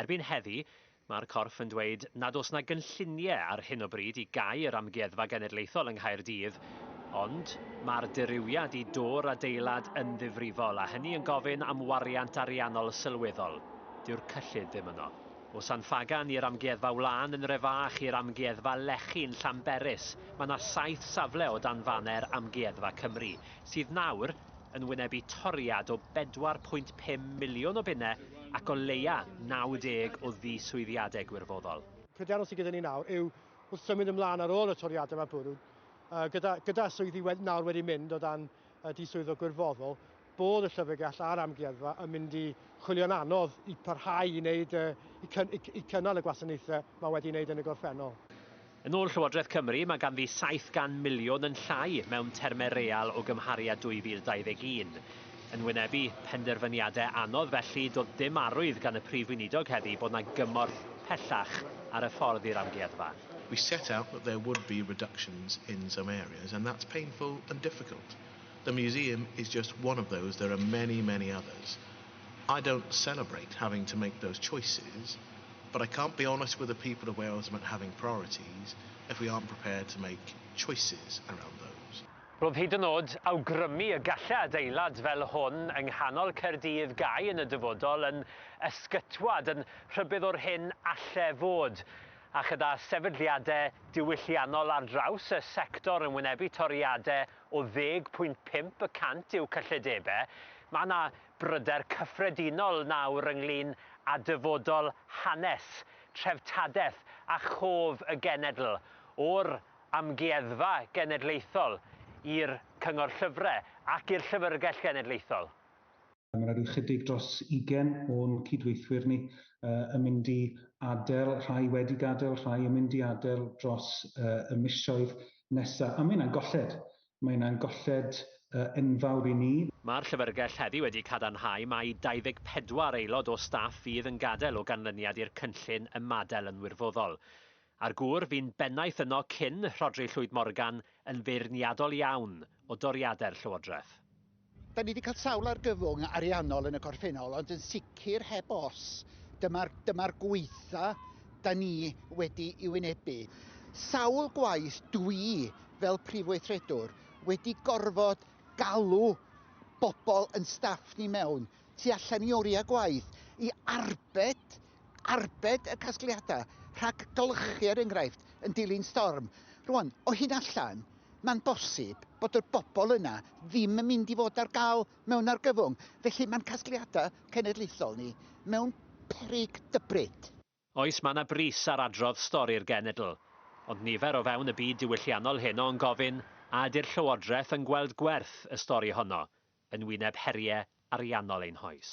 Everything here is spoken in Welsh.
Erbyn heddi, mae'r corff yn dweud nad oes 'na gynlluniau ar hyn o bryd i gau yr Amgueddfa Genedlaethol yng Nghaerdydd, ond mae'r dirywiad i dor'r adeilad yn ddifrifol a hynny yn gofyn am wariant ariannol sylweddol. Dyw'r cyllid ddim yno. O San Ffagan i'r Amgueddfa Wlân yn Refach i'r Amgueddfa Lechi yn Llanberis, mae 'na saith safle o dan faner Amgueddfa Cymru, sydd nawr yn wynebu toriad o 4.5 miliwn o bunnau ac o leia 90 o ddiswyddiadau gwirfoddol. Pryderon sydd gyda ni nawr yw wrth symud ymlaen ar ôl y toriadau mae bwrw, gyda, gyda swyddi wed, nawr wedi mynd o dan y diswyddo gwirfoddol, bod y llyfrgell a'r amgueddfa yn mynd i chwilio'n anodd i parhau i, wneud, i, cyn, i, i cynnal y gwasanaethau mae wedi wneud yn y gorffennol. Yn ôl Llywodraeth Cymru, mae ganddi 700 miliwn yn llai mewn termau real o gymharu â 2021. Yn wynebu penderfyniadau anodd felly, doedd dim arwydd gan y Prif Weinidog heddi bod 'na gymorth pellach ar y ffordd i'r amgueddfa. We set out that there would be reductions in some areas and that's painful and difficult. The museum is just one of those, there are many, many others. I don't celebrate having to make those choices, but I can't be honest with the people of Wales about having priorities if we aren't prepared to make choices around those. Roedd hyd yn oed awgrymu y gallai adeilad fel hwn yng nghanol Caerdydd gau yn y dyfodol yn ysgytwad, yn rhybudd o'r hyn allai fod. A chyda sefydliadau diwylliannol ar draws y sector yn wynebu toriadau o ddeg pwynt pump y cant i'w cyllidebau, mae yna bryder cyffredinol nawr ynglŷn â dyfodol hanes, treftadaeth a chof y genedl, o'r Amgueddfa Genedlaethol i'r Cyngor Llyfrau ac i'r Llyfrgell Genedlaethol. Mae yna rhyw chydig dros 20 o'n cydweithwyr ni yn mynd i adael, rhai wedi gadael, rhai yn mynd i adael dros y misoedd nesaf. A mae hynna'n golled. Mae hynna'n golled enfawr i ni. Mae'r Llyfrgell heddi wedi cadarnhau mai 24 aelod o staff fydd yn gadael o ganlyniad i'r cynllun ymadael yn wirfoddol. A'r gŵr fu'n bennaeth yno cyn Rhodri Llwyd Morgan yn feirniadol iawn o doriadau'r Llywodraeth. Dan ni 'di cael sawl argyfwng ariannol yn y gorffennol, ond yn sicr heb os, dyma'r dyma'r gwaetha' dan ni wedi ei wynebu. Sawl gwaith dwi, fel Prif Weithredwr, wedi gorfod galw bobl yn staff ni mewn, tu allan i oriau gwaith, i arbed arbed y casgliadau rhag golchi er enghraifft yn dilyn storm. Rwan, o hyn allan, mae'n bosib bod y bobl yna ddim yn mynd i fod ar gael mewn argyfwng, felly mae'n casgliadau cenedlaethol ni mewn peryg dybryd. Oes, mae yna bris ar adrodd stori'r genedl, ond nifer o fewn y byd diwylliannol heno yn gofyn a ydy'r Llywodraeth yn gweld gwerth y stori honno yn wyneb heriau ariannol ein hoes.